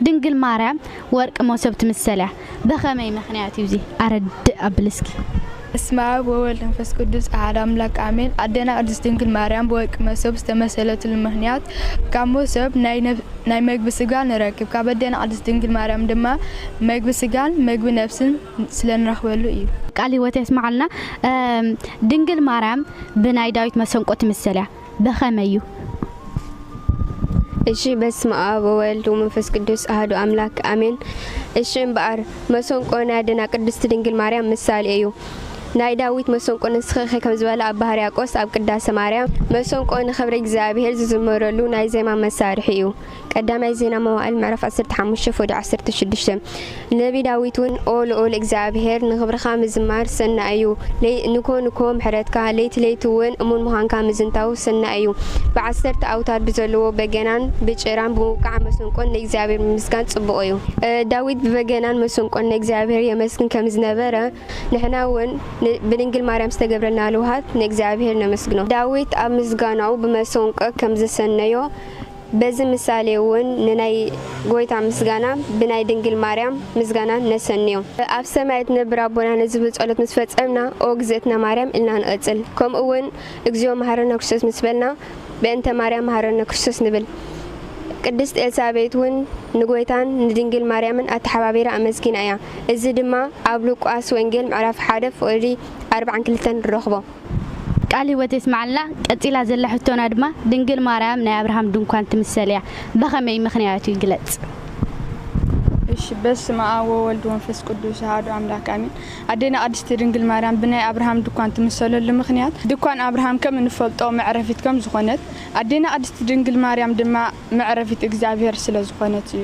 ድንግል ማርያም ወርቂ ሞሶብ ትምሰል እያ በከመይ መክንያት እዩ እዚ ኣረድእ ኣብሊ እስኪ። በስመ ኣብ ወወልድ መንፈስ ቅዱስ ኣሐድ ኣምላክ ኣሜን ኣደና ቅድስት ድንግል ማርያም ብወርቂ መሶብ ዝተመሰለትሉ ምክንያት ካብ መሶብ ናይ መግቢ ስጋ ንረክብ ካብ ኣደና ቅድስት ድንግል ማርያም ድማ መግቢ ስጋን መግቢ ነፍስን ስለንረክበሉ እዩ ቃል ህይወት የስምዓልና ድንግል ማርያም ብናይ ዳዊት መሰንቆ ትምሰል እያ በኸመይ እዩ? እሺ በስመኣብ ወወልድ ወመንፈስ ቅዱስ ኣህዱ ኣምላክ ኣሜን። እሺ እምበኣር መሰንቆ ናይ ኣደና ቅድስቲ ድንግል ማርያም ምሳሌ እዩ። ናይ ዳዊት መሰንቆ ንስኺኺ ከም ዝበለ ኣባ ሕርያቆስ ኣብ ቅዳሰ ማርያም መሰንቆ ንኽብሪ እግዚኣብሔር ዝዝመረሉ ናይ ዜማ መሳርሒ እዩ። ቀዳማይ ዜና መዋእል ምዕራፍ ዓሰርተ ሓሙሽተ ፎዶ ዓሰርተ ሽዱሽተ ነቢ ዳዊት ውን ኦ ልኡል እግዚኣብሄር ንኽብርኻ ምዝማር ሰናይ እዩ ንኮ ንኮ ምሕረትካ ለይቲ ለይቲ ውን እሙን ምዃንካ ምዝንታው ሰናይ እዩ ብዓሰርተ ኣውታር ብዘለዎ በገናን ብጭራን ብምውቃዕ መሰንቆን ንእግዚኣብሄር ምምስጋን ጽቡቕ እዩ ዳዊት ብበገናን መሰንቆን ንእግዚኣብሄር የመስግን ከም ዝነበረ ንሕና ውን ብድንግል ማርያም ዝተገብረልና ልውሃት ንእግዚኣብሄር ነመስግኖ ዳዊት ኣብ ምስጋናኡ ብመሰንቆ ከም ዘሰነዮ በዚ ምሳሌ'ውን ንናይ ጐይታ ምስጋና ብናይ ድንግል ማርያም ምስጋና ነሰንዮ። ኣብ ሰማይ እትነብር ኣቦና ንዝብል ጸሎት ምስ ፈጸምና ኦ እግዝእትነ ማርያም ኢልና ንቕጽል። ከምኡ'ውን እግዚኦ መሓረነ ክርስቶስ ምስ በልና በእንተ ማርያም መሓረነ ክርስቶስ ንብል። ቅድስት ኤልሳቤጥ'ውን ንጐይታን ንድንግል ማርያምን ኣተሓባቢራ ኣመስጊና እያ። እዚ ድማ ኣብ ሉቃስ ወንጌል ምዕራፍ ሓደ ፍቕዲ ኣርባዓን ክልተን ንረኽቦ። ቃል ህይወት የስምዓልና ቀጺላ ዘላ ሕቶና ድማ ድንግል ማርያም ናይ ኣብርሃም ድንኳን ትምሰል እያ በኸመይ ምኽንያቱ ይግለጽ። እሺ በስመኣብ ወወልድ ወንፈስ ቅዱስ ኣሃዱ ኣምላክ ኣሜን ኣዴና ቅድስቲ ድንግል ማርያም ብናይ ኣብርሃም ድኳን ትምሰለሉ ምኽንያት ድኳን ኣብርሃም ከም እንፈልጦ መዕረፊት ከም ዝኾነት ኣዴና ቅድስቲ ድንግል ማርያም ድማ መዕረፊት እግዚኣብሔር ስለ ዝኾነት እዩ።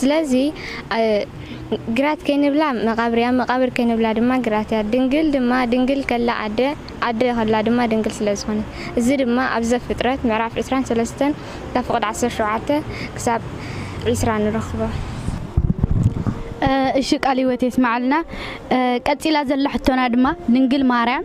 ስለዚ ግራት ከይንብላ መቓብር እያ፣ መቓብር ከይንብላ ድማ ግራት እያ። ድንግል ድማ ድንግል ከላ ኣደ፣ ኣደ ከላ ድማ ድንግል ስለ ዝኾነት። እዚ ድማ ኣብ ዘፍጥረት ምዕራፍ ዕስራን ሰለስተን ካብ ፍቕዲ ዓሰርተ ሸውዓተ ክሳብ ዕስራ ንረኽቦ። እሺ ቃል ህይወት የስመዓልና ቀጺላ ዘላ ሕቶና ድማ ድንግል ማርያም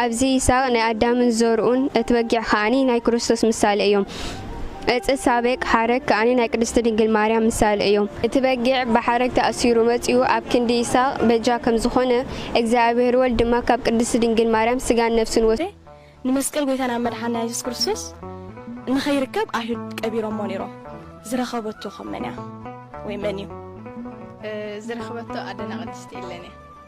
ኣብዚ ይስሃቅ ናይ ኣዳምን ዘርኡን እቲ በጊዕ ከኣ ናይ ክርስቶስ ምሳሌ እዮም። ዕጽ ሳቤቅ፣ ሓረግ፣ ከኣ ናይ ቅድስቲ ድንግል ማርያም ምሳሌ እዮም። እቲ በጊዕ ብሓረግ ተኣሲሩ መጺኡ ኣብ ክንዲ ይስሃቅ በጃ ከም ዝኾነ፣ እግዚኣብሔር ወልድ ድማ ካብ ቅድስቲ ድንግል ማርያም ስጋን ነፍስን ወሲዱ፣ ንመስቀል ጎይታናን መድሓኒና የሱስ ክርስቶስ ንኸይርከብ ኣይሁድ ቀቢሮሞ ነይሮም። ዝረኸበቶ ከ መን እያ ወይ መን እዩ? ዝረኽበቶ ኣደና ቅድስቲ ኤለን እያ።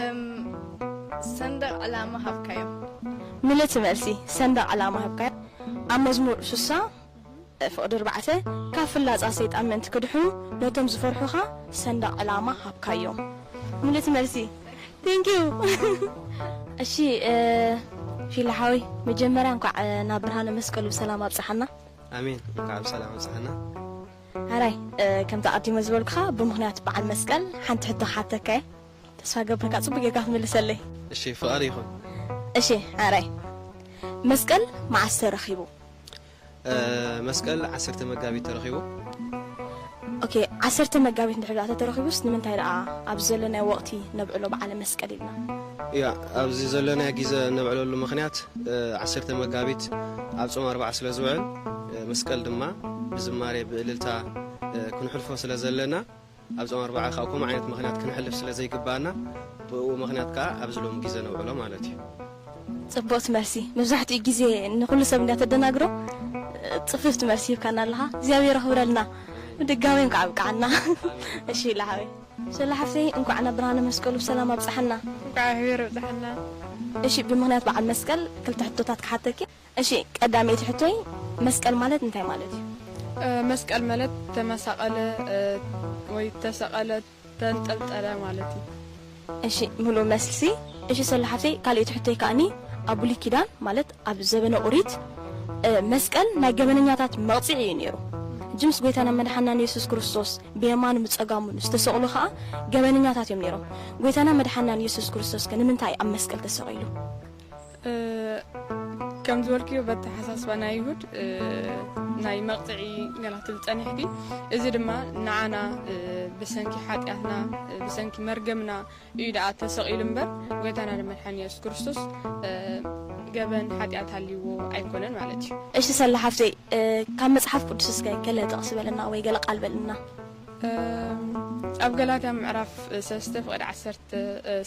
እም ሰንደቅ ዕላማ ሃብካዮም። ምልእቲ መልሲ፣ ሰንደቅ ዕላማ ሃብካዮም። ኣብ መዝሙር ሱሳ ፍቅዲ ኣርባዕተ፣ ካብ ፍላጻ ሰይጣን ምእንቲ ክድሕኑ፣ ነቶም ዝፈርሑኻ ሰንደቅ ዕላማ ሃብካዮም። ምልእቲ መልሲ፣ Thank you። እሺ ፊሊ ሓወይ መጀመርያ እንኳዕ ናብ ብርሃነ መስቀሉ ብሰላም ኣብፀሐና። ኣሜን እንኳዕ ብሰላም ኣብፀሐና። ሐራይ ከምቲ ኣቀዲመ ዝበልኩኻ ብምኽንያት በዓል መስቀል ሓንቲ ሕቶ ክሓተካ እየ። ተስፋ ገብረካ ጽቡቅ ጌርካ ክትምልሰለይ። እሺ ፍቃር ይኩን። እሺ ሕራይ መስቀል መዓስ ተረኪቡ? መስቀል ዓሰርተ መጋቢት ተረኪቡ። ኦኬ ዓሰርተ መጋቢት እንድሕር ደኣ ተተረኪቡስ ንምንታይ ደኣ ኣብዚ ዘለናዮ ወቅቲ ነብዕሎ በዓለ መስቀል ኢልና? ያ ኣብዚ ዘለናዮ ግዘ እነብዕለሉ ምኽንያት ዓሰርተ መጋቢት ኣብ ጾም ኣርብዓ ስለ ዝውዕል መስቀል ድማ ብዝማሬ ብእልልታ ክንሕልፎ ስለ ዘለና ኣብዞም ኣርባዓ ካብ ከምኡ ዓይነት ምኽንያት ክንሕልፍ ስለ ዘይግብኣና ብእኡ ምኽንያት ከኣ ኣብዚ ሎሚ ግዜ ነውዕሎ ማለት እዩ። ጽብቕቲ መልሲ መብዛሕትኡ ግዜ ንኹሉ ሰብ እንድያ ተደናግሮ ጽፍፍቲ መልሲ ሂብካና ኣለኻ እግዚኣብሔር የኽብረልና ብድጋሜም ከዓ ኣብቅዓና እሺ ኢለ ሓወይ። ሶሎ ሓፍተይ እንኳዕ ናብ ብርሃነ መስቀሉ ብሰላም ኣብፀሐና። እንኳዕ ኣብሒቢር ኣብፀሐና። እሺ ብምክንያት በዓል መስቀል ክልተ ሕቶታት ክሓተኪ። እሺ ቀዳመይቲ ሕቶይ መስቀል ማለት እንታይ ማለት እዩ? መስቀል መለት ተመሳቀለ ወይ ተሰቀለ ተንጠልጠለ ማለት እዩ። እሺ ምሉእ መልሲ እሺ ሰሉ ሓፍተይ ካሊኤቲ ሕቶይ ካኣኒ ኣብ ቡሉይ ኪዳን ማለት ኣብ ዘበነ ኡሪት መስቀል ናይ ገበነኛታት መቅፂዒ እዩ ነይሩ ህጂ ምስ ጎይታናን መድሓንናን የሱስ ክርስቶስ ብየማኑ ብፀጋሙን ዝተሰቅሉ ካኣ ገበነኛታት እዮም ነይሮም ጎይታናን መድሓንናን የሱስ ክርስቶስከ ንምንታይ ኣብ መስቀል ተሰቂሉ? ከም ዝበልክዮ በተሓሳስባ ናይ ይሁድ ናይ መቕፅዒ ገላ ትብል ፀኒሕኪ እዚ ድማ ንዓና ብሰንኪ ሓጢኣትና ብሰንኪ መርገምና እዩ ደኣ ተሰቒሉ እምበር ጎይታና ንመድሓኒ የሱስ ክርስቶስ ገበን ሓጢኣት ሃልይዎ ኣይኮነን ማለት እዩ እሺ ሰላ ሓፍተይ ካብ መጽሓፍ ቅዱስ እስከ ገለ ጥቕሲ በለና ወይ ገለ ቃል በልና ኣብ ገላትያ ምዕራፍ ሰለስተ ፍቕዲ ዓሰርተ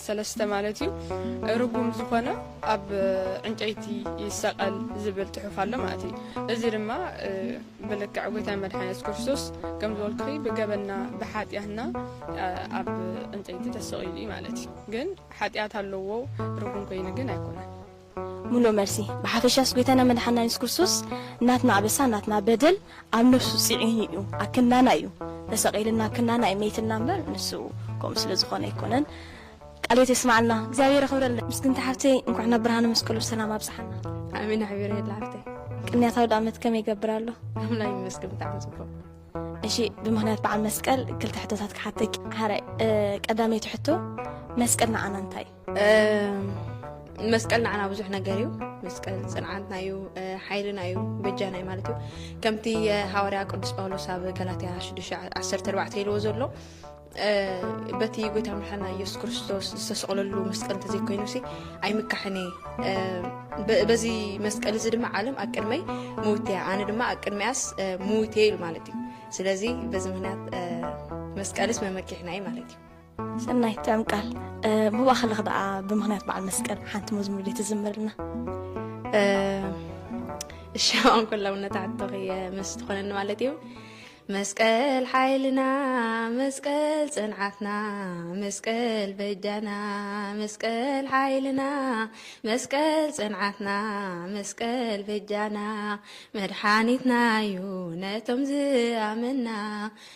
ሰለስተ ማለት እዩ ርጉም ዝኾነ ኣብ ዕንጨይቲ ይሰቀል ዝብል ጽሑፍ ኣሎ ማለት እዩ እዚ ድማ ብልክዕ ጎይታ መድሓኒ የሱስ ክርስቶስ ከም ዝበልኩ ብገበና ብሓጢኣትና ኣብ ዕንጨይቲ ተሰቂሉ እዩ ማለት እዩ ግን ሓጢኣት ኣለዎ ርጉም ኮይኑ ግን ኣይኮነን ምሉእ መልሲ፣ ብሓፈሻስ ጎይታና መድሓና የሱስ ክርስቶስ ናትና ኣበሳ ናትና በደል ኣብ ነብሱ ጺዒኑ እዩ ኣብ ክንዳና እዩ ተሰቂልና ኣብ ክንዳና እዩ መይትልና እምበር ንሱ ከምኡ ስለ ዝኾነ ኣይኮነን ቃለ ህይወት የስማዓልና እግዚኣብሔር የኽብረልና ምስግንቲ ሓፍተይ እንኳዕ ናብ ብርሃነ መስቀሉ ብሰላም ኣብጽሓና ኣሜን ኣሕቢረየላ ሓፍተይ ቅንያት ኣውድኣመት ከመይ ይገብር ኣሎ ኣምላክ ይመስገን ብጣዕሚ ጽቡቅ እሺ ብምክንያት በዓል መስቀል ክልተ ሕቶታት ክሓተኪ ሓራይ ቀዳመይቲ ሕቶ መስቀል ንዓና እንታይ መስቀል ንዓና ብዙሕ ነገር እዩ መስቀል ፅንዓትና እዩ ሓይልና እዩ በጃና እዩ ማለት እዩ ከምቲ ሃዋርያ ቅዱስ ጳውሎስ ኣብ ገላትያ 14 ኢልዎ ዘሎ በቲ ጎይታ ምርሓና ኢየሱስ ክርስቶስ ዝተሰቕለሉ መስቀል እንተዘይኮይኑ ሲ ኣይምካሕን እየ በዚ መስቀል እዚ ድማ ዓለም ኣብ ቅድመይ ምውት እያ ኣነ ድማ ኣብ ቅድሚያስ ምውት እየ ኢሉ ማለት እዩ ስለዚ በዚ ምክንያት መስቀልስ መመኪሕና እዩ ማለት እዩ ሰናይ ጠምቃል ብባኸልኽ ደኣ ብምኽንያት በዓል መስቀል ሓንቲ መዝሙር ዲ ትዝምርልና እሻዋን ኮላውነት ኣቶኺ ምስ ትኾነኒ ማለት እዩ መስቀል ሓይልና መስቀል ፅንዓትና መስቀል በጃና መስቀል ሓይልና መስቀል ፅንዓትና መስቀል በጃና መድሓኒትና እዩ ነቶም ዝኣመና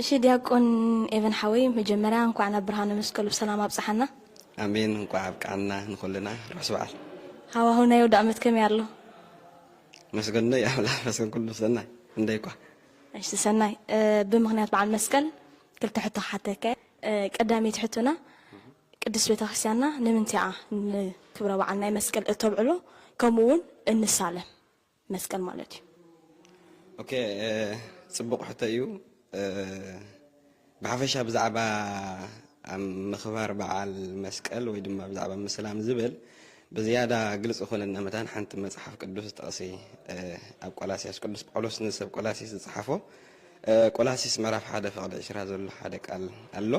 እሺ ዲያቆን ኤቨን ሓወይ መጀመርያ እንኳዕ ናብ ብርሃነ መስቀሉ ብሰላም ኣብፀሓና። ኣሜን እንኳዕ ኣብቀዓና ንኩልና ርሑስ በዓል። ሃዋህው ናይ ኣውዳእመት ከመይ ኣሎ? መስገኖይ ኣምላክ መስገን ኩሉ ሰናይ እንደይኳ። እሺ ሰናይ ብምክንያት በዓል መስቀል ክልተ ሕቶ ክሓተከ ቀዳመይቲ ሕቶና ቅድስት ቤተክርስትያንና ንምንትያ ንክብረ በዓል ናይ መስቀል እተብዕሎ ከምኡ እውን እንሳለም? መስቀል ማለት እዩ። ኦኬ ጽቡቕ ሕቶ እዩ ብሓፈሻ ብዛዕባ ምኽባር በዓል መስቀል ወይ ድማ ብዛዕባ ምስላም ዝብል ብዝያዳ ግልፂ ኮነና መታን ሓንቲ መፅሓፍ ቅዱስ ጥቕሲ ኣብ ቆላሲያስ ቅዱስ ጳውሎስ ንሰብ ቆላሲስ ዝፅሓፎ ቆላሲስ ምዕራፍ ሓደ ፍቕዲ ዕሽራ ዘሎ ሓደ ቃል ኣሎ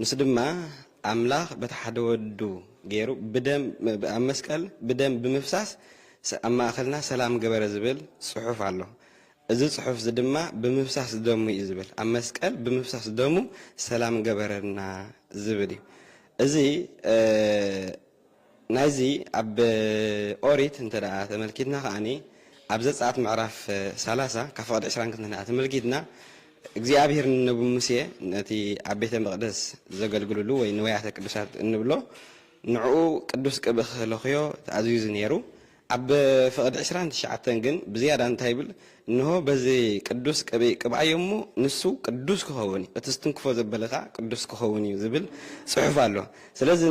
ንሱ ድማ ኣምላኽ በቲ ሓደ ወዱ ገይሩ ብደም ኣብ መስቀል ብደም ብምፍሳስ ኣብ ማእከልና ሰላም ገበረ ዝብል ጽሑፍ ኣሎ። እዚ ጽሑፍ እዚ ድማ ብምፍሳስ ደሙ እዩ ዝብል ኣብ መስቀል ብምፍሳስ ደሙ ሰላም ገበረልና ዝብል እዩ። እዚ ናይዚ ኣብ ኦሪት እንተ ተመልኪትና ከኣ ኣብ ዘጸኣት ምዕራፍ ሰላሳ ካብ ፍቕዲ ዕስራን ክንዲ ተመልኪትና እግዚኣብሔር ንነቢ ሙሴ ነቲ ኣብ ቤተ መቕደስ ዘገልግልሉ ወይ ንወያተ ቅዱሳት እንብሎ ንዕኡ ቅዱስ ቅብእ ክህለኽዮ ተኣዚዙ ነይሩ ኣብ ፍቕድ ዕስራን ትሽዓተን ግን ብዝያዳ እንታይ ይብል፣ እንሆ፣ በዚ ቅዱስ ቅብኢ ቅብኣዮ እሞ ንሱ ቅዱስ ኪኸውን እዩ፣ እቲ ዝትንክፎ ዘበለ ኸኣ ቅዱስ ኪኸውን እዩ ዚብል ጽሑፍ ኣሎ። ስለዚ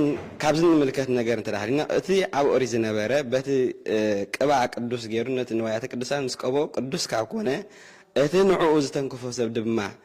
ካብዚ እንምልከት ነገር እንተ ሃልዩና፣ እቲ ኣብ ኦሪት ዝነበረ በቲ ቅብኣ ቅዱስ ገይሩ ነቲ ንዋያተ ቅድሳት ምስ ቀብኦ ቅዱስ ካብ ኰነ፣ እቲ ንዕኡ ዝተንከፎ ሰብ ድማ፣